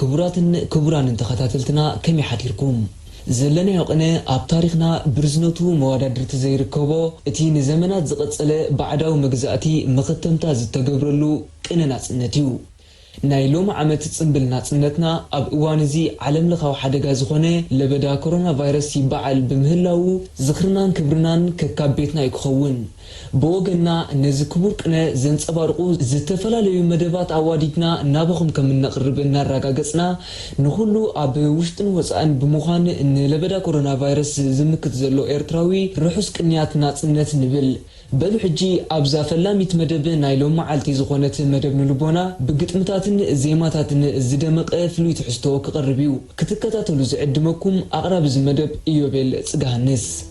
ክቡራትን ክቡራንን ተኸታተልትና ከመይ ሓዲርኩም? ዘለናዮ ቅነ ኣብ ታሪኽና ብርዝነቱ መዋዳድርቲ ዘይርከቦ እቲ ንዘመናት ዝቐጸለ ባዕዳዊ መግዛእቲ መኸተምታ ዝተገብረሉ ቅነ ናጽነት እዩ። ናይ ሎሚ ዓመት ጽንብል ናጽነትና ኣብ እዋን እዚ ዓለም ለኻዊ ሓደጋ ዝኾነ ለበዳ ኮሮና ቫይረስ ይበዓል ብምህላዉ ዝኽርናን ክብርናን ከካብ ቤትና እዩ ክኸውን። ብወገንና ነዚ ክቡር ቅነ ዘንጸባርቑ ዝተፈላለዩ መደባት ኣዋዲድና ናባኹም ከም እነቕርብ እናራጋገጽና፣ ንኹሉ ኣብ ውሽጥን ወጻእን ብምዃን ንለበዳ ኮሮና ቫይረስ ዝምክት ዘሎ ኤርትራዊ ርሑስ ቅንያት ናጽነት ንብል። በሉ ሕጂ ኣብዛ ፈላሚት መደብ ናይ ሎምዓልቲ ዝኾነት መደብ ንልቦና ብግጥምታትን ዜማታትን ዝደመቐ ፍሉይ ትሕዝቶ ክቐርብ እዩ። ክትከታተሉ ዝዕድመኩም ኣቕራቢ እዚ መደብ ኢዮቤል ጽገሃንስ።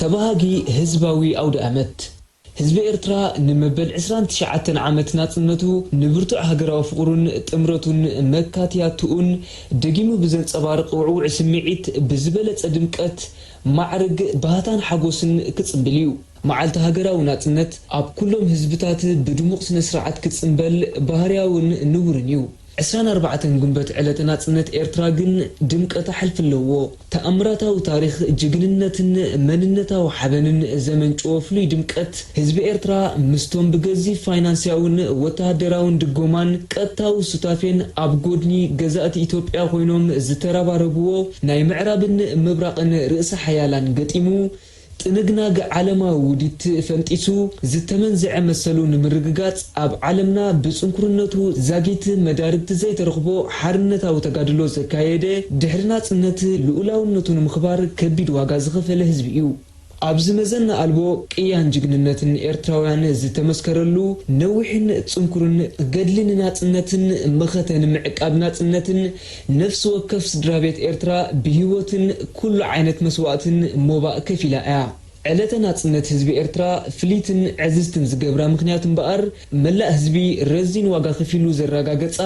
ተበሃጊ ህዝባዊ ኣውደኣመት! ህዝቢ ኤርትራ ንመበል ዕስራን ትሽዓተን ዓመት ናጽነቱ ንብርቱዕ ሃገራዊ ፍቕሩን ጥምረቱን መካትያትኡን ደጊሙ ብዘንጸባርቕ ውዕዉዕ ስምዒት ብዝበለጸ ድምቀት፣ ማዕርግ፣ ባህታን ሓጎስን ክጽምብል እዩ። መዓልቲ ሃገራዊ ናጽነት ኣብ ኩሎም ህዝብታት ብድሙቕ ስነ-ስርዓት ክጽንበል ባህርያውን ንቡርን እዩ። ዕስራን ኣርባዕተን ጉንበት ዕለተ ናጽነት ኤርትራ ግን ድምቀታ ሕልፊ ኣለዎ። ተኣምራታዊ ታሪኽ ጅግንነትን መንነታዊ ሓበንን ዘመንጭዎ ፍሉይ ድምቀት ህዝቢ ኤርትራ ምስቶም ብገዚፍ ፋይናንስያውን ወተሃደራውን ድጎማን ቀጥታዊ ሱታፌን ኣብ ጎድኒ ገዛእቲ ኢትዮጵያ ኮይኖም ዝተረባረብዎ ናይ ምዕራብን ምብራቕን ርእሰ ሓያላን ገጢሙ ጥንግናግ ዓለማዊ ውዲት ፈንጢሱ፣ ዝተመንዘዐ መሰሉ ንምርግጋጽ ኣብ ዓለምና ብጽንኩርነቱ ዛጊት መዳርግቲ ዘይተረኽቦ ሓርነታዊ ተጋድሎ ዘካየደ፣ ድሕሪ ናጽነት ልኡላውነቱ ንምኽባር ከቢድ ዋጋ ዝኸፈለ ህዝቢ'ዩ። ኣብዚ መዘና ኣልቦ ቅያን ጅግንነትን ኤርትራውያን ዝተመስከረሉ ነዊሕን ጽንኩርን ገድሊ ንናጽነትን መኸተ ንምዕቃብ ናጽነትን፣ ነፍሲ ወከፍ ስድራቤት ኤርትራ ብሂወትን ኩሉ ዓይነት መስዋእትን ሞባእ ከፊላ እያ። ዕለተ ናጽነት ህዝቢ ኤርትራ ፍልይትን ዕዝዝትን ዝገብራ ምኽንያት እምበኣር መላእ ህዝቢ ረዚን ዋጋ ከፊሉ ዘራጋገጻ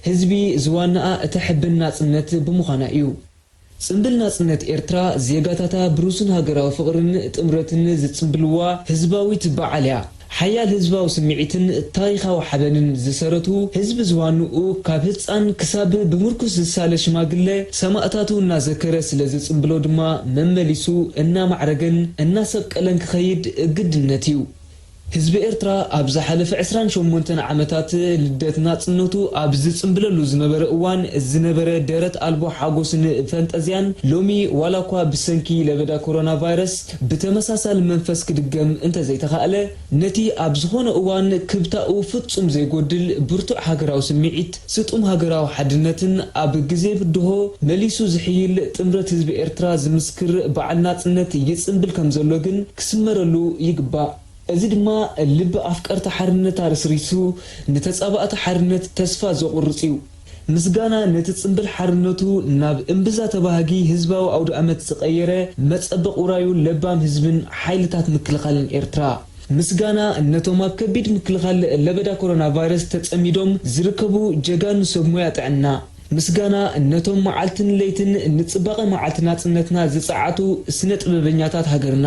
ህዝቢ ዝዋንኣ እተሕብን ናጽነት ብምዃና እዩ። ጽንብል ናጽነት ኤርትራ ዜጋታታ ብሩሱን ሃገራዊ ፍቕርን ጥምረትን ዝጽንብልዋ ህዝባዊት በዓል እያ። ሓያል ህዝባዊ ስምዒትን ታሪኻዊ ሓበንን ዝሰረቱ ህዝቢ ዝዋንኡ ካብ ህጻን ክሳብ ብምርኩስ ዝሳለ ሽማግለ ሰማእታቱ እናዘከረ ስለ ዝጽምብሎ ድማ መመሊሱ እናማዕረገን እናሰብቀለን ክኸይድ ግድነት እዩ። ህዝቢ ኤርትራ ኣብ ዝሓለፈ ዕስራን ሸሞንተን ዓመታት ልደት ናጽነቱ ኣብ ዝጽምብለሉ ዝነበረ እዋን ዝነበረ ደረት ኣልቦ ሓጎስን ፈንጠዝያን ሎሚ ዋላኳ ብሰንኪ ለበዳ ኮሮና ቫይረስ ብተመሳሳሊ መንፈስ ክድገም እንተዘይተኻእለ፣ ነቲ ኣብ ዝኾነ እዋን ክብታኡ ፍጹም ዘይጎድል ብርቱዕ ሃገራዊ ስምዒት፣ ስጡም ሃገራዊ ሓድነትን ኣብ ግዜ ብድሆ መሊሱ ዝሕይል ጥምረት ህዝቢ ኤርትራ ዝምስክር በዓል ናጽነት ይጽንብል ከምዘሎ ግን ክስመረሉ ይግባእ። እዚ ድማ ልቢ ኣፍቀርቲ ሓርነት ኣረስሪሱ ንተጻባእቲ ሓርነት ተስፋ ዘቑርጽ እዩ። ምስጋና ነቲ ጽምብል ሓርነቱ ናብ እምብዛ ተባሃጊ ህዝባዊ ኣውደኣመት ዝቐየረ መጸበቕ ውራዩ ለባም ህዝብን ሓይልታት ምክልኻልን ኤርትራ። ምስጋና ነቶም ኣብ ከቢድ ምክልኻል ለበዳ ኮሮናቫይረስ ተጸሚዶም ዝርከቡ ጀጋኑ ሰብ ሞያ ጥዕና። ምስጋና ነቶም መዓልትን ለይትን ንጽባቐ መዓልቲ ናጽነትና ዝጸዓቱ ስነ-ጥበበኛታት ሃገርና።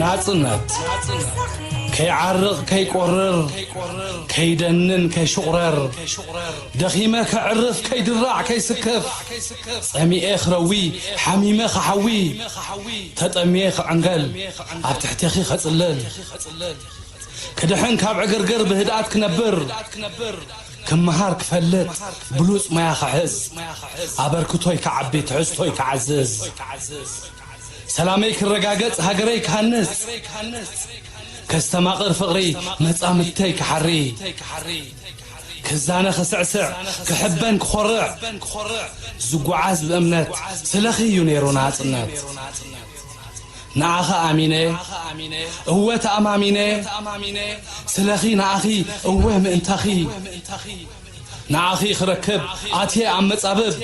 ናጽነት ከይዓርቕ ከይቆርር ከይደንን ከይሹቕረር ደኺመ ከዕርፍ ከይድራዕ ከይስከፍ ጸሚኤ ክረዊ ሓሚመ ክሓዊ ተጠምየ ክዕንገል ኣብ ትሕቴኺ ከጽልል ክድሕን ካብ ዕግርግር ብህድኣት ክነብር ክመሃር ክፈልጥ ብሉጽ ሞያ ክሕዝ ኣበርክቶይ ክዓቢ ትሕዝቶይ ክዓዝዝ ሰላመይ ክረጋገጽ ሃገረይ ክሃንጽ ከስተማቕር ፍቕሪ መጻምድተይ ክሓሪ ክዛነ ክስዕስዕ ክሕበን ክኾርዕ ዝጉዓዝ ብእምነት ስለኺ እዩ ነይሩ ናጽነት ንዓኺ ኣሚነ እወ ተኣማሚነ ስለኺ ንኣኺ እወ ምእንታኺ ንዓኺ ክረክብ ኣትየ ኣብ መጻብብ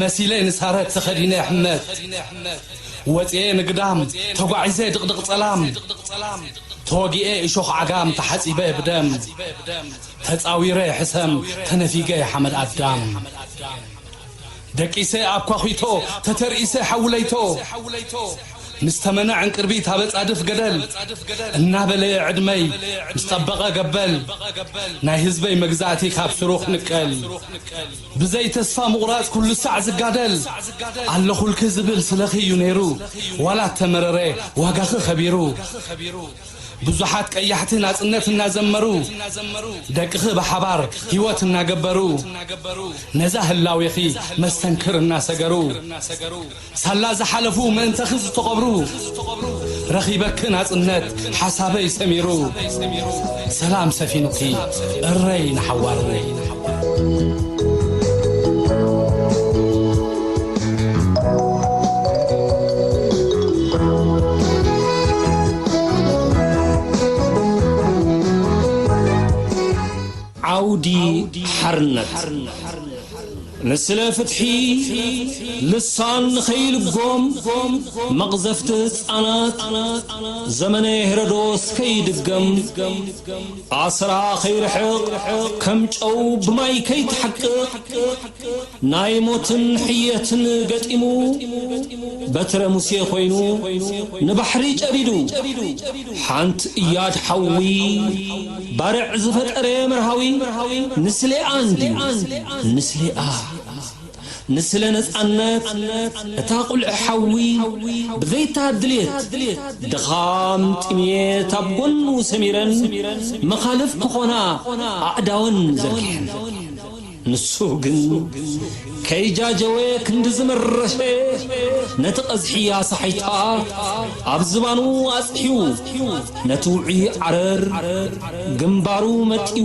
መሲለ ንሳረት ተኸዲነ ሕመት ወጺኤ ንግዳም ተጓዒዘ ድቕድቕ ጸላም ተወጊኤ እሾኽ ዓጋም ተሓጺበ ብደም ተጻዊረ ሕሰም ተነፊገ ሓመድ ኣዳም ደቂሰ ኣብ ኳዅቶ ተተርኢሰ ሓዊ ለይቶ ምስ ተመነ ዕንቅርቢት ኣብ ኣጻድፍ ገደል እናበለየ ዕድመይ ምስ ጠበቐ ገበል ናይ ህዝበይ መግዛእቲ ካብ ሱሩ ክንቀል ብዘይ ተስፋ ምቑራጽ ኩሉ ሳዕ ዝጋደል ኣለኹልኪ ዝብል ስለኺ እዩ ነይሩ ዋላ እተመረረ ዋጋኺ ኸቢሩ ብዙሓት ቀያሕቲ ናጽነት እናዘመሩ ደቅኺ ብሓባር ህይወት እናገበሩ ነዛ ህላዌኺ መስተንክር እናሰገሩ ሳላ ዝሓለፉ ምእንተኺ ዝተቐብሩ ረኺበኪ ናጽነት ሓሳበይ ሰሚሩ ሰላም ሰፊኑኪ እረይ ንሓዋሩ ዓውዲ ሓርነት ንስለ ፍትሒ ልሳን ንኸይልጎም መቕዘፍቲ ህፃናት ዘመነ ሄሮዶስ ከይድገም ኣስራ ከይርሕቕ ከም ጨው ብማይ ከይትሓቅቕ ናይ ሞትን ሕየትን ገጢሙ በትረ ሙሴ ኮይኑ ንባሕሪ ጨዲዱ ሓንት እያድ ሓዊ ባርዕ ዝፈጠረ መርሃዊ ንስሌኣ እንድዩ ንስሌኣ ንስለ ነጻነት እታ ቁልዒ ሓዊ ብዘይታ ድሌት ድኻም ጥምየት ኣብ ጎኑ ሰሚረን መኻልፍ ክኾና ኣእዳወን ዘርጊሐን ንሱ ግን ከይጃጀወ ክንድዚ መረሸ ነቲ ቀዝሒ ኣሳሒታ ኣብ ዝባኑ ኣጽሒዉ ነቲ ውዑይ ዓረር ግንባሩ መጥዩ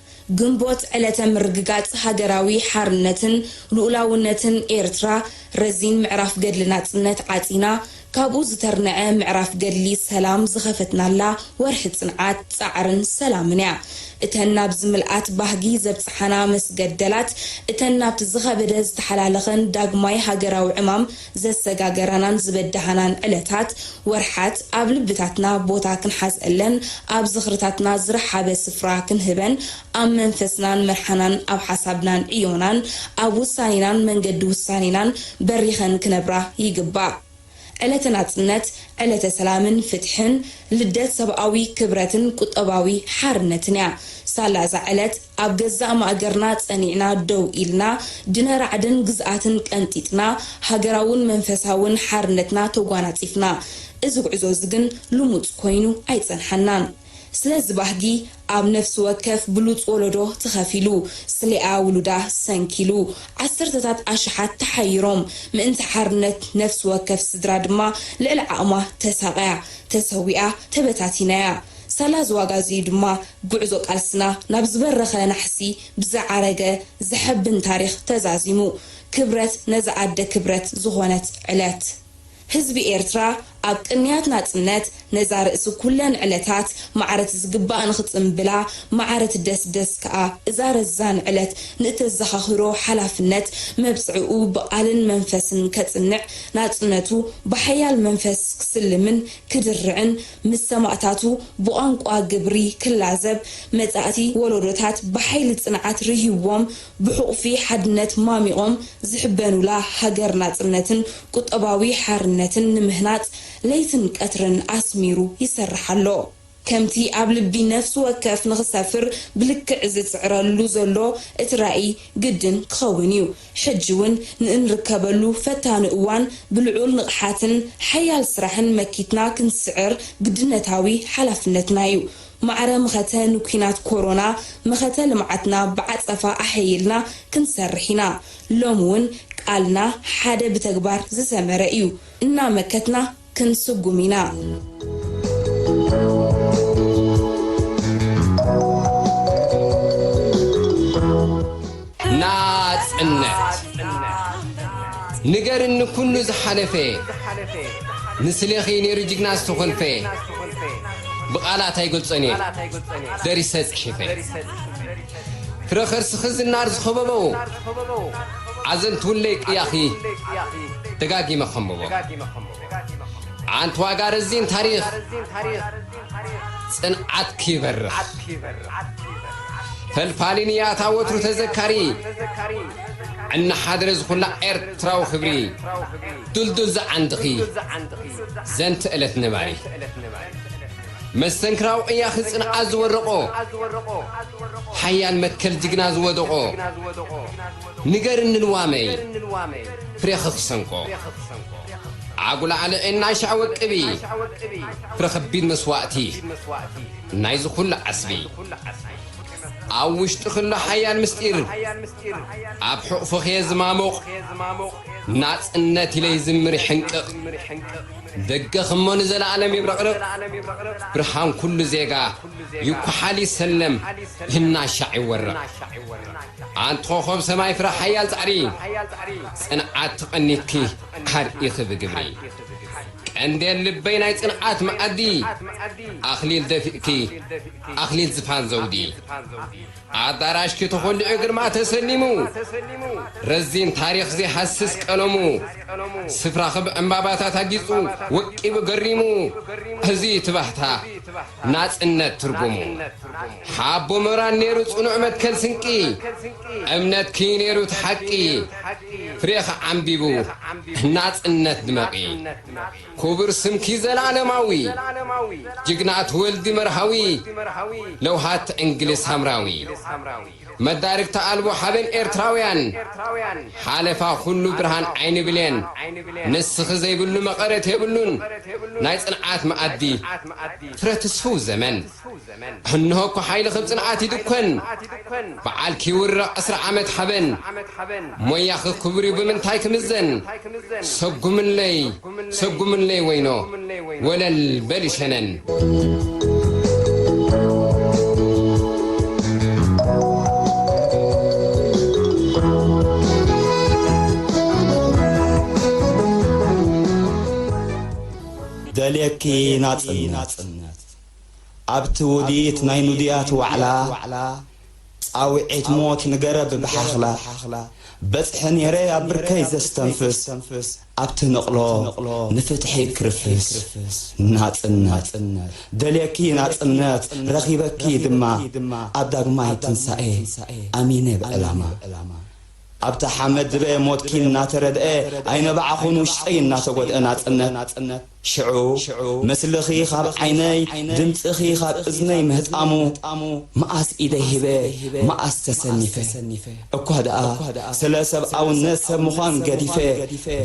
ግንቦት ዕለተ ምርግጋጽ ሃገራዊ ሓርነትን ልኡላውነትን ኤርትራ፣ ረዚን ምዕራፍ ገድሊ ናጽነት ዓጺና፣ ካብኡ ዝተርነዐ ምዕራፍ ገድሊ ሰላም ዝኸፈትናላ ወርሒ ጽንዓት፣ ጻዕርን ሰላምን እያ። እተን ናብዚ ምልኣት ባህጊ ዘብጽሓና መስገደላት፣ እተን ናብቲ ዝኸበደ ዝተሓላለኸን ዳግማይ ሃገራዊ ዕማም፣ ዘሰጋገራናን ዝበዳሃናን ዕለታት፣ ወርሓት፣ ኣብ ልብታትና ቦታ ክንሓዘለን፣ ኣብ ዝኽርታትና ዝረሓበ ስፍራ ክንህበን፣ ኣብ መንፈስናን መርሓናን ኣብ ሓሳብናን ዕዮናን ኣብ ውሳኔናን መንገዲ ውሳኔናን በሪኸን ክነብራ ይግባእ። ዕለተ ናጽነት፣ ዕለተ ሰላምን ፍትሕን፣ ልደት ሰብኣዊ ክብረትን ቁጠባዊ ሓርነትን'ያ። ሳላ እዛ ዕለት፣ ኣብ ገዛእ ማእገርና ጸኒዕና ደው ኢልና፣ ድነ ራዕድን ግዝኣትን ቀንጢጥና፣ ሃገራውን መንፈሳውን ሓርነትና ተጓናጺፍና። እዚ ጉዕዞ'ዚ ግን ልሙጽ ኮይኑ ኣይጸንሓናን። ስለዚ ባህጊ ኣብ ነፍሲ ወከፍ ብሉጽ ወለዶ ተኸፊሉ። ስሌኣ ውሉዳ ሰንኪሉ። ዓሰርተታት ኣሽሓት ተሓይሮም። ምእንቲ ሓርነት ነፍሲ ወከፍ ስድራ ድማ ልዕሊ ዓቕማ ተሳቕያ፣ ተሰዊኣ፣ ተበታቲና'ያ። ሳላ እዚ ዋጋ እዚ እዩ ድማ ጉዕዞ ቃልስና ናብ ዝበረኸ ናሕሲ ብዝዓረገ ዘሐብን ታሪኽ ተዛዚሙ። ክብረት ነዛ ኣደ ክብረት ዝኾነት ዕለት! ህዝቢ ኤርትራ ኣብ ቅንያት ናጽነት ነዛ ርእሲ ኩለን ዕለታት ማዕረት ዝግባእ ንኽጽንብላ ማዕረት ደስ ደስ ከኣ እዛ ረዛን ዕለት ንእተዘኻኽሮ ሓላፍነት መብጽዕኡ ብቓልን መንፈስን ከጽንዕ ናጽነቱ ብሓያል መንፈስ ክስልምን ክድርዕን ምስ ሰማእታቱ ብቋንቋ ግብሪ ክላዘብ፣ መጻእቲ ወሎዶታት ብሓይሊ ጽንዓት ርህዩዎም ብሑቕፊ ሓድነት ማሚቖም ዝሕበኑላ ሃገር ናጽነትን ቁጠባዊ ሓርነትን ንምህናጽ ለይትን ቀትርን ኣስሚሩ ይሰርሕ ኣሎ። ከምቲ ኣብ ልቢ ነፍሲ ወከፍ ንኽሰፍር ብልክዕ ዝጽዕረሉ ዘሎ እቲ ራኢ ግድን ክኸውን'ዩ። ሕጂ ውን ንእንርከበሉ ፈታኒ እዋን ብልዑል ንቕሓትን ሓያል ስራሕን መኪትና ክንስዕር ግድነታዊ ሓላፍነትና እዩ። ማዕረ መኸተ ንኲናት ኮሮና መኸተ ልምዓትና ብዓጸፋ ኣሐይልና ክንሰርሕ ኢና። ሎሚ ውን ቃልና ሓደ ብተግባር ዝሰመረ እዩ። እናመከትና። ክንስጉም ኢናናጽነትንገርኒ ኩሉ ዝሓለፈ ንስሌኺ ነይሩ ጅግና ዝተኾልፈ ብቃላት ኣይገልጾን እየ ደሪሰ ጽሒፈ። ፍረ ከርስኺ ዝናር ዝኸበቦ ኣዘንትውለይ ቅያኺ ደጋጊመ ከንብቦ ዓንትዋጋ ረዚን ታሪኽ ጽንዓትኪ ይበርኽ ፈልፋሊ ንያታ ወትሩ ተዘካሪ እናሓደረ ዝኹላ ኤርትራዊ ክብሪ ዱልዱል ዝዓንድኺ ዘንቲ ዕለት ነባሪ መስተንክራዊ ቅያኺ ጽንዓት ዝወረቖ ሓያል መትከል ጅግና ዝወደቖ ንገርኒ ልዋመይ ፍሬኺ ክሰንቆ ዓጉል ዓለዔን ናሻ ወቅቢ ፍረ ከቢድ መስዋእቲ ናይዚ ኩሉ ዓስቢ ኣብ ውሽጥኺ ኣሎ ሓያል ምስጢር ኣብ ሕቑፍኺ'የ ዝማሙቕ ናጽነት ኢለ ይዝምር ይሕንቅቕ። ደገኽ እሞ ንዘለኣለም ይብረቕርቕ ብርሃን ኩሉ ዜጋ ይኩሓል ይሰለም ይናሻዕ ይወረቕ ኣንቲ ኮኾብ ሰማይ ፍረ ሓያል ጻዕሪ ጽንዓት ተቐኒትኪ ኣርኢኺ ብግብሪ ቀንዴል ልበይ ናይ ጽንዓት መኣዲ ኣኽሊል ደፊእኪ ኣኽሊል ዝፋን ዘውዲ ኣዳራሽ ክትኹልዑ ግርማ ተሰሊሙ ረዚን ታሪኽ ዘይሃስስ ቀለሙ ስፍራ ክብ ዕምባባታት ኣጊጹ ወቂቡ ገሪሙ እዚ'ዩ ትባህታ ናጽነት ትርጉሙ ሓቦ ሞራል ነይሩ ጽኑዕ መትከል ስንቂ እምነትኪ'ዩ ነይሩ እቲ ሓቂ ፍሬኺ ዓምቢቡ ናጽነት ድመቒ። ኩቡር ስምኪ ዘልኣለማዊ ጅግና ኣቲ ወልዲ መርሃዊ ለውሃት ዕንግሊዝ ሳምራዊ መዳርግቲ ኣልቦ ሓበን ኤርትራውያን ሓለፋ ኩሉ ብርሃን ዓይኒ ብሌን ንስኺ ዘይብሉ መቐረት የብሉን ናይ ጽንዓት መኣዲ ፍረ ትስፉው ዘመን እንሆ እኮ ሓይሊ ክብ ጽንዓት ይድኮን ብዓል ኪውርቕ ዕስራ ዓመት ሓበን ሞያኺ ክቡርዩ ብምንታይ ክምዘን ሰጉምለይ ሰጉምለይ ወይኖ ወለል በሊ ሸነን። ደልየኪ ናጽነት! ኣብቲ ውዲት ናይ ኑዲያት ዋዕላ ጻዊዒት ሞት ንገረብ ብሓኽላ በጽሐ ኔረ ኣብ ብርከይ ዘስተንፍስ ኣብቲ ንቕሎ ንፍትሒ ክርፍስ ናጽነት ደልየኪ ናጽነት ረኺበኪ ድማ ኣብ ዳግማይ ትንሳኤ ኣሚነ ብዕላማ ኣብታ ሓመድ ድበ ሞትኪ እናተረድኤ ኣይነባዕኹን ውሽጠይ እናተጎድኤ ናጽነት ሽዑ ምስልኺ ኻብ ዓይነይ ድምጽኺ ኻብ እዝነይ ምህጣሙ መኣስ ኢደይ ሂበ መኣስ ተሰኒፈ እኳ ደኣ ስለ ሰብኣውነት ሰብ ምዃን ገዲፈ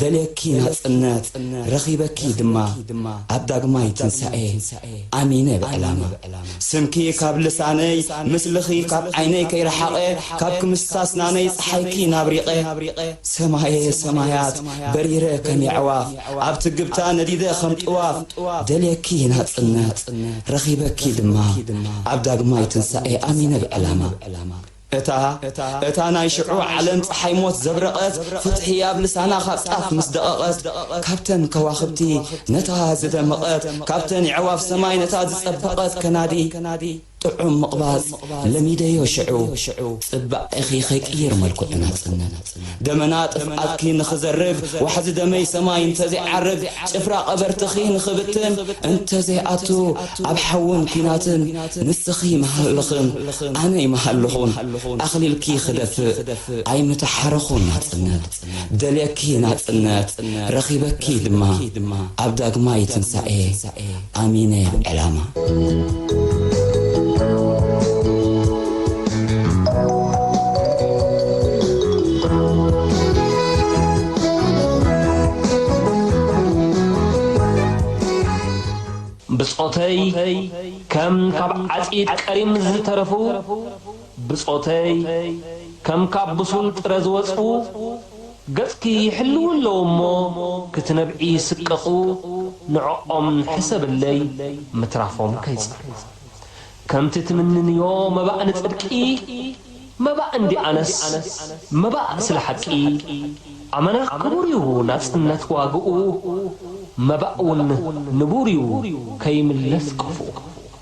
ደልየኪ ናጽነት ረኺበኪ ድማ ኣብ ዳግማይ ትንሳኤ ኣሚነ ብዕላማ ስምኪ ካብ ልሳነይ ምስልኺ ካብ ዓይነይ ከይረሓቐ ካብ ክምስታ ኣስናነይ ጸሓይኪ ናብሪቐ ሰማየ ሰማያት በሪረ ከም የዕዋፍ ኣብ ትግብታ ነዲደ ኸም ጥዋፍ ደልየኪ ናጽነት ረኺበኪ ድማ ኣብ ዳግማይ ትንሳኤ ኣሚነ ብዕላማ እታ እታ ናይ ሽዑ ዓለም ጸሓይ ሞት ዘብረቐት ፍትሒ ኣብ ልሳና ካብ ጣፍ ምስ ደቐቐት ካብተን ከዋኽብቲ ነታ ዝደመቐት ካብተን የዕዋፍ ሰማይ ነታ ዝጸበቐት ከናዲ ጥዑም ምቕባጽ ለሚደዮ ሽዑ ጽባቄኺ ከይቅይር መልክዑ ናጽነት ደመና ጥፍኣትኪ ንኽዘርግ ዋሕዚ ደመይ ሰማይ እንተዘይዓርግ ጭፍራ ቀበርትኺ ንኽብትን እንተዘይኣቱ ኣብ ሓውን ኲናትን ንስኺ ምሃልኽን ኣነይ ምሃልኹን ኣኽሊልኪ ክደፍእ ኣይምተሓረኹን ናጽነት ደልየኪ ናጽነት ረኺበኪ ድማ ኣብ ዳግማይ ትንሳኤ ኣሚነ ዕላማ ብጾተይ ከም ካብ ዓጺድ ቀሪም ዝተረፉ ብጾተይ፣ ከም ካብ ብሱል ጥረ ዝወጽኡ፣ ገጽኪ ይሕልዉ ኣለዉ እሞ ክትነብዒ ይስቀቑ፣ ንዕኦም ሕሰብለይ ምትራፎም ከይጸርኩ። ከምቲ ትምንንዮ መባእ ንጽድቂ፣ መባእ እንዲኣነስ መባእ ስለ ሓቂ፣ ኣመና ክቡር እዩ ናጽነት ዋግኡ፣ መባእውን ንቡር እዩ ከይምለስ ቅፍኡ።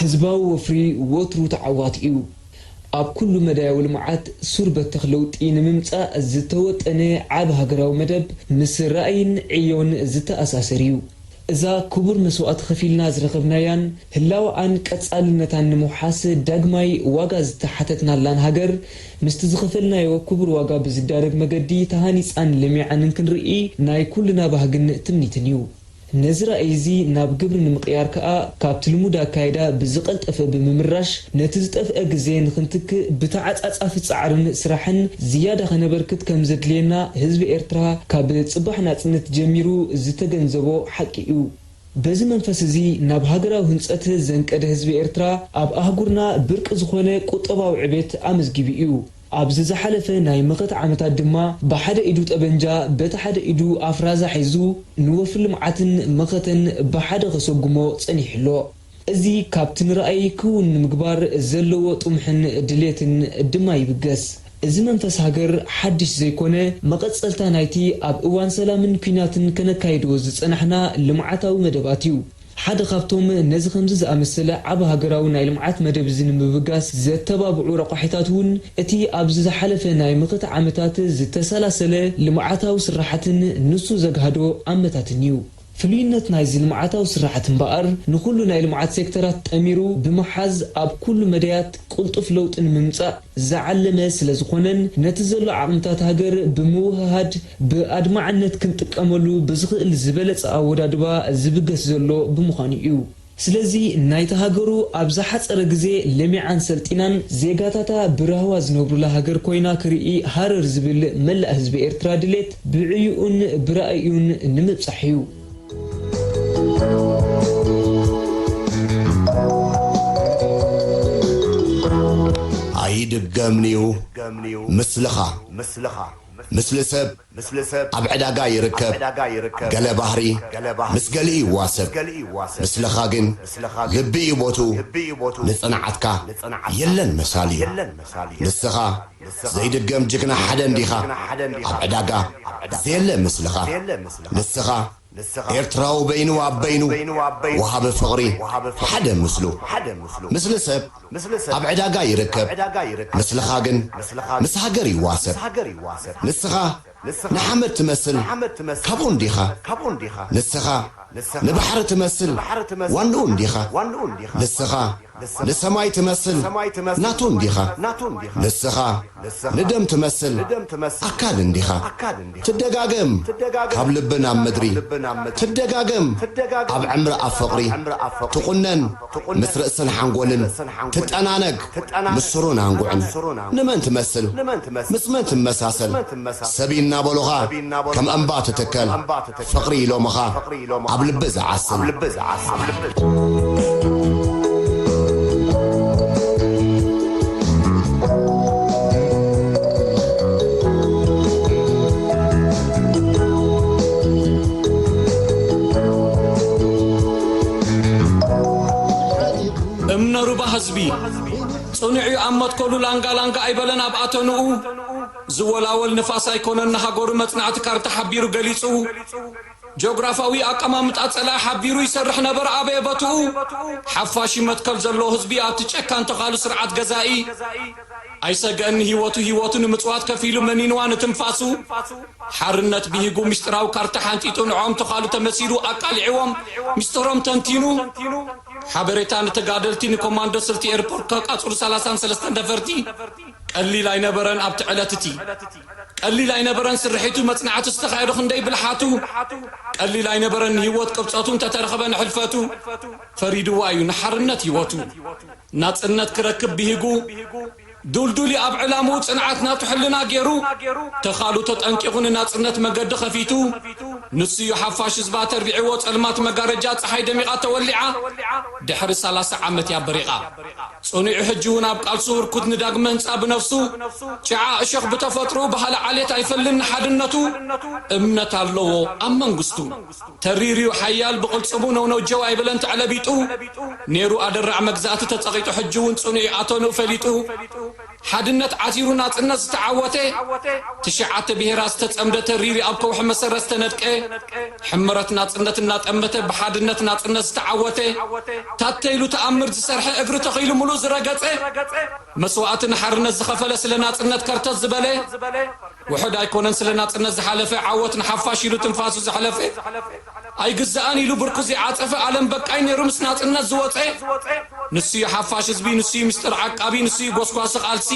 ህዝባዊ ወፍሪ ወትሩ ተዓዋቲ እዩ። ኣብ ኩሉ መዳያዊ ልምዓት ሱር በተኽ ለውጢ ንምምፃእ ዝተወጠነ ዓቢ ሃገራዊ መደብ ምስ ራእይን ዕዮን ዝተኣሳሰር እዩ። እዛ ክቡር መስዋእቲ ከፊልና ዝረኸብናያን ህላወኣን ቀጻልነታን ንምውሓስ ዳግማይ ዋጋ ዝተሓተትናላን ሃገር፣ ምስቲ ዝኸፈልናዮ ክቡር ዋጋ ብዝዳረግ መገዲ ተሃኒጻን ለሚዓን እንክንርኢ ናይ ኩልና ባህግን ትምኒትን እዩ። ነዚ ራእይ'ዚ ናብ ግብሪ ንምቕያር ከኣ፣ ካብቲ ልሙድ ኣካይዳ ብዝቐልጠፈ ብምምራሽ ነቲ ዝጠፍኣ ግዜ ንኽንትክእ ብተዓጻጻፊ ጻዕርን ስራሕን ዝያዳ ከነበርክት ከም ዘድልየና ህዝቢ ኤርትራ ካብ ጽባሕ ናጽነት ጀሚሩ ዝተገንዘቦ ሓቂ እዩ። በዚ መንፈስ እዚ ናብ ሃገራዊ ህንጸት ዘንቀደ ህዝቢ ኤርትራ ኣብ ኣህጉርና ብርቂ ዝኾነ ቁጠባዊ ዕቤት ኣመዝጊቡ እዩ። ኣብዚ ዝሓለፈ ናይ መኸተ ዓመታት ድማ ብሓደ ኢዱ ጠበንጃ በቲ ሓደ ኢዱ ኣፍ ራዛ ሒዙ ንወፍሪ ልምዓትን መኸተን ብሓደ ከሰጉሞ ጸኒሑ ኣሎ። እዚ ካብቲ ንራእይ ክውን ንምግባር ዘለዎ ጥሙሕን ድሌትን ድማ ይብገስ። እዚ መንፈስ ሃገር ሓድሽ ዘይኮነ መቐጸልታ ናይቲ ኣብ እዋን ሰላምን ኲናትን ከነካይዶ ዝጸናሕና ልምዓታዊ መደባት እዩ። ሓደ ካብቶም ነዚ ከምዚ ዝኣመሰለ ዓቢ ሃገራዊ ናይ ልምዓት መደብ እዚ ንምብጋስ ዘተባብዑ ረቋሒታት እውን እቲ ኣብዚ ዝሓለፈ ናይ ምኽት ዓመታት ዝተሰላሰለ ልምዓታዊ ስራሓትን ንሱ ዘግሃዶ ኣመታትን እዩ። ፍሉይነት ናይዚ ልምዓታዊ ስራሓት እምበኣር ንኹሉ ናይ ልምዓት ሴክተራት ጠሚሩ ብምሓዝ ኣብ ኩሉ መዳያት ቅልጡፍ ለውጢ ንምምጻእ፣ ዝዓለመ ስለዝኾነን ነቲ ዘሎ ዓቕምታት ሃገር ብምውህሃድ ብኣድማዕነት ክንጥቀመሉ ብዝኽእል ዝበለጸ ኣወዳድባ ዝብገስ ዘሎ ብምዃኑ እዩ። ስለዚ ናይታ ሃገሩ ኣብ ዝሓጸረ ግዜ ለሚዓን ሰልጢናን ዜጋታታ ብራህዋ ዝነብሩላ ሃገር ኮይና ክርኢ ሃረር ዝብል መላእ ህዝቢ ኤርትራ ድሌት ብዕዩኡን ብራእዩን ንምብጻሕ እዩ። ኣይድገምን'ዩ ምስልኻ ምስሊ ሰብ ኣብ ዕዳጋ ይርከብ ገለ ባህሪ ምስ ገሊኡ ይዋሰብ ምስልኻ ግን ልቢ'ዩ ቦትኡ ንጽንዓትካ የለን መሳሊኡ ንስኻ ዘይድገም ጅግና ሓደ እንዲኻ ኣብ ዕዳጋ ዘየለ ምስልኻ ንስኻ ኤርትራዊ በይኑ ኣብ በይኑ ወሃቢ ፍቕሪ ሓደ ምስሉ ምስሊ ሰብ ኣብ ዕዳጋ ይርከብ ምስልኻ ግን ምስ ሃገር ይዋሰብ ንስኻ ንሓመድ ትመስል ካብኡ እንዲኻ ንስኻ ንባሕሪ ትመስል ዋንኡ እንዲኻ ንስኻ ንሰማይ ትመስል ናቱ እንዲኻ ንስኻ ንደም ትመስል ኣካል እንዲኻ ትደጋገም ካብ ልቢ ናብ ምድሪ ትደጋገም ኣብ ዕምሪ ኣብ ፍቕሪ ትቑነን ምስ ርእስን ሓንጎልን ትጠናነግ ምስ ሱሩን ኣንጉዕን ንመን ትመስል ምስ መን ትመሳሰል ሰብ ኢናበሉኻ ከም እምባ ትትከል ፍቕሪ ኢሎምኻ ኣብ ልቢ ዝዓስል። እምነ ሩባ ህዝቢ ጽኑዕ እዩ ኣብ መትከሉ ላንጋ ላንጋ ኣይበለን ኣብ ኣተንኡ ዝወላወል ንፋስ ኣይኮነን ንሃገሩ መጽናዕቲ ካርታ ሓቢሩ ገሊጹ ጆግራፋዊ ኣቀማምጣ ጸላኢ ሓቢሩ ይሰርሕ ነበረ ኣበየ በትኡ ሓፋሽ መትከል ዘለዎ ህዝቢ ኣብቲ ጨካን ተኻሉ ስርዓት ገዛኢ ኣይሰገእን ንሂወቱ ሂወቱ ንምጽዋት ከፊሉ መኒንዋ ንትንፋሱ ሓርነት ቢሂጉ ሚስጢራዊ ካርታ ሓንጢጡ ንዖኦም ተዃሉ ተመሲሉ ኣቃሊዕዎም ሚስጥሮም ተንቲኑ ሓበሬታ ንተጋደልቲ ንኮማንዶ ስልቲ ኤርፖርት ከቃጽሉ ሰላሳን ሰለስተን ነፈርቲ ቀሊል ኣይነበረን ኣብቲ ዕለት እቲ ቀሊል ኣይነበረን ስርሒቱ መጽናዕቱ ዝተኻየዶ ክንደይ ብልሓቱ ቀሊል ኣይነበረን ንሂወት ቅብጸቱ እንተተረኽበ ንሕልፈቱ ፈሪድዋ እዩ ንሓርነት ሂወቱ ናጽነት ክረክብ ብሂጉ፣ ዱልዱሊ ኣብ ዕላምኡ ጽንዓት ናቱ ሕልና ጌሩ፣ ተኻሉ ተጠንቂቑ ንናጽነት መገዲ ከፊቱ፣ ንሱ'ዩ ሓፋሽ ህዝባ ተርቢዕዎ ጸልማት መጋረጃ ጸሓይ ደሚቓ ተወሊዓ ድሕሪ ሰላሳ ዓመት'ያ በሪቓ። ጽኑዑ ሕጂ'ውን ኣብ ቃልሱ ህርኩት ንዳግመ ህንጻ ብነፍሱ ጭዓ እሾኽ ብተፈጥርኡ በሃሊ ዓሌት ኣይፈልን ንሓድነቱ እምነት ኣለዎ ኣብ መንግስቱ። ተሪርዩ ሓያል ብቕልጽሙ ነው ነው ጀው ኣይበለን ተዕለቢጡ ኔሩ ኣደራዕ መግዛእቲ ተጸቒጡ ሕጂውን ጽኑዕዩ ኣቶንኡ ፈሊጡ ሓድነት ዓቲሩ ናጽነት ዝተዓወተ ትሽዓተ ብሄራት ዝተጸምደ ተሪርዩ ኣብ ከውሒ መሰረት ዝተነድቀ ሕመረት ናጽነት እናጠመተ ብሓድነት ናጽነት ዝተዓወተ ታተይሉ ተኣምር ዝሰርሐ እግሪ ተኺሉ ምሉእ ዝረገጸ መስዋእቲ ንሓርነት ዝኸፈለ ስለ ናጽነት ከርተት ዝበለ ውሑድ ኣይኮነን ስለ ናጽነት ዝሓለፈ ዓወት ንሓፋሽ ኢሉ ትንፋሱ ዘሕለፈ ኣይግዛእን ኢሉ ብርኩ ዘይዓጸፈ ኣለም በቃኝ ኔሩ ምስ ናጽነት ዝወጸ ንሱዩ ሓፋሽ ህዝቢ ንሱዩ ምስጢር ዓቃቢ ንሱዩ ጎስጓሲ ቃልሲ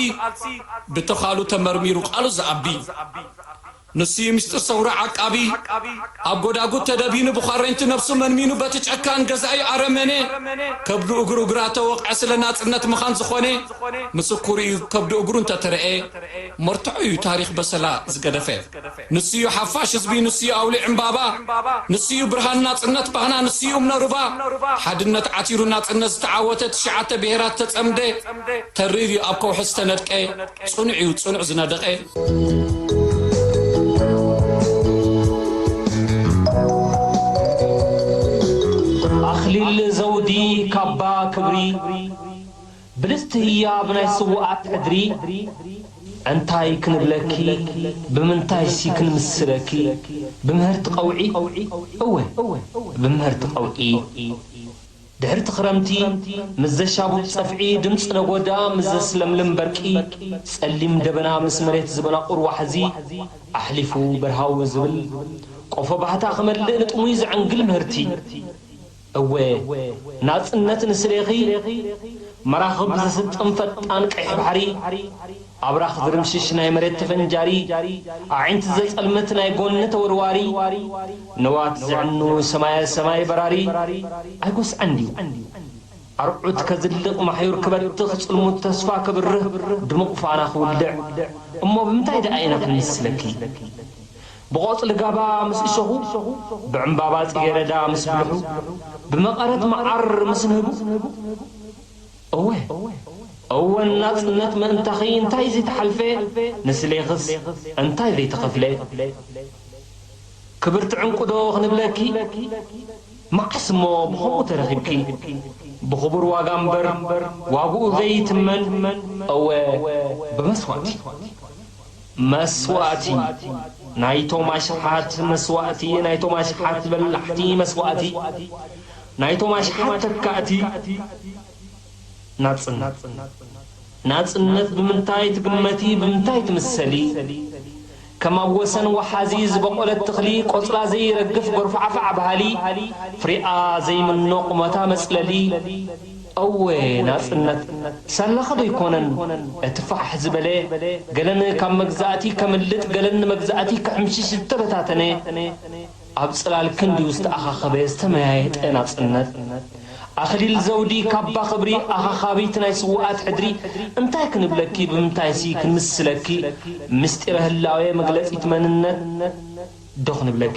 ብተዃሉ ተመርሚሩ ቃሉ ዝኣቢ ንሱዩ ምስጢር ሰውራ ዓቃቢ ኣብ ጎዳጉድ ተደቢኑ ብዃረንቲ ነብሱ መንሚኑ በቲ ጨካን ገዛኢ ኣረመኔ ከብዱ እግሩ እግራ ተወቕዐ ስለ ናጽነት መኻን ዝኾነ ምስኩርዩ ከብዱ እግሩ እንተተረኤ መርትዖ እዩ ታሪኽ በሰላ ዝገደፈ ንሱ እዩ ሓፋሽ ህዝቢ ንሱ እዩ ኣውሊዕ ዕምባባ ንሱ እዩ ብርሃን ናጽነት ባህና ንሱ እዩ እምነ ሩባ ሓድነት ዓቲሩ ናጽነት ዝተዓወተ ትሽዓተ ብሄራት ዝተጸምደ ተሪር እዩ ኣብ ከውሒ ዝተነድቀ ጽኑዕ እዩ ጽኑዕ ዝነደቐ ኣኽሊል ዘውዲ ካባ ክብሪ ብልጽቲ ህያብ ናይ ስውኣት ሕድሪ እንታይ ክንብለኪ ብምንታይሲ ክንምስለኪ ብምህርቲ ቀውዒ እወ ብምህርቲ ቀውዒ ድሕርቲ ክረምቲ ምስ ዘሻቡብ ጸፍዒ ድምጺ ነጎዳ ምስ ዘስለምልም በርቂ ጸሊም ደበና ምስ መሬት ዝበናቑር ዋሕዚ ኣሕሊፉ በርሃዊ ዝብል ቆፎ ባህታ ክመልእ ንጥሙይ ዘዕንግል ምህርቲ እወ ናጽነት ንስሌኺ መራኽብ ዝስጥም ፈጣን ቀይሕ ባሕሪ ኣብራኽ ዝርምሽሽ ናይ መሬት ተፈንጃሪ ኣዒንቲ ዘጸልምት ናይ ጎኒ ተወርዋሪ ንዋት ዘዕኑ ሰማየ ሰማይ በራሪ ኣይጎስዐን ድዩ ኣርዑት ከዝልቕ ማሕዩር ክበትኽ ጽልሙት ተስፋ ከብርህ ድሙቕ ፋና ክውልዕ እሞ ብምንታይ ደኣ ኢና ክንምስለኪ ብቖጽሊ ጋባ ምስ እሸኹ፣ ብዕምባባ ጽጌረዳ ምስ ብልሑ፣ ብመቐረት መዓር ምስ ንህቡ። እወ! እወ! ንናጽነት ምእንታኺ እንታይ ዘይተሓልፈ፣ ንስሌኽስ እንታይ ዘይተኸፍለ። ክብርቲ ዕንቊዶ ክንብለኪ? መዓስ እሞ ብኸምኡ ተረኺብኪ። ብኽቡር ዋጋ እምበር ዋግኡ ዘይትመን፣ እወ! ብመስዋእቲ። መስዋእቲ ናይቶም ኣሽሓት መስዋእቲ ናይቶም ኣሽሓት በላሕቲ መስዋእቲ ናይቶም ኣሽሓት ተካእቲ ናጽነት ናጽነት ብምንታይ ትግመቲ ብምንታይ ትምሰሊ ከም ኣብ ወሰን ወሓዚ ዝበቖለት ተኽሊ ቆጽላ ዘይረግፍ ጎርፋዕፋዕ በሃሊ ፍሪኣ ዘይምኖ ቁመታ መጽለሊ እወ ናጽነት ሳላኻ ዶ ኣይኮነን እቲ ፋሕ ዝበለ ገለን ካብ መግዛእቲ ከምልጥ ገለን ንመግዛእቲ ክሕምሽሽ ዝተበታተነ ኣብ ጽላል ክንድኡ ዝተኣኻኸበ ዝተመያየጠ ናጽነት ኣኽሊል ዘውዲ ካባ ክብሪ ኣኻኻቢት ናይ ስውኣት ሕድሪ እንታይ ክንብለኪ ብምንታይሲ ክንምስለኪ ምስጢረ ህላዌ መግለጺት መንነት ዶ ክንብለኪ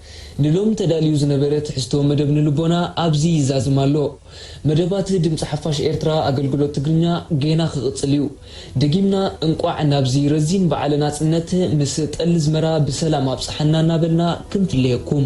ንሎሚ ተዳልዩ ዝነበረ ትሕዝቶ መደብ ንልቦና ኣብዚ ይዛዝም ኣሎ። መደባት ድምጺ ሓፋሽ ኤርትራ ኣገልግሎት ትግርኛ ጌና ክቕጽል እዩ። ደጊምና እንቋዕ ናብዚ ረዚን በዓለ ናጽነት ምስ ጠሊ ኣዝመራ ብሰላም ኣብጽሓና እናበልና ክንፍለየኩም።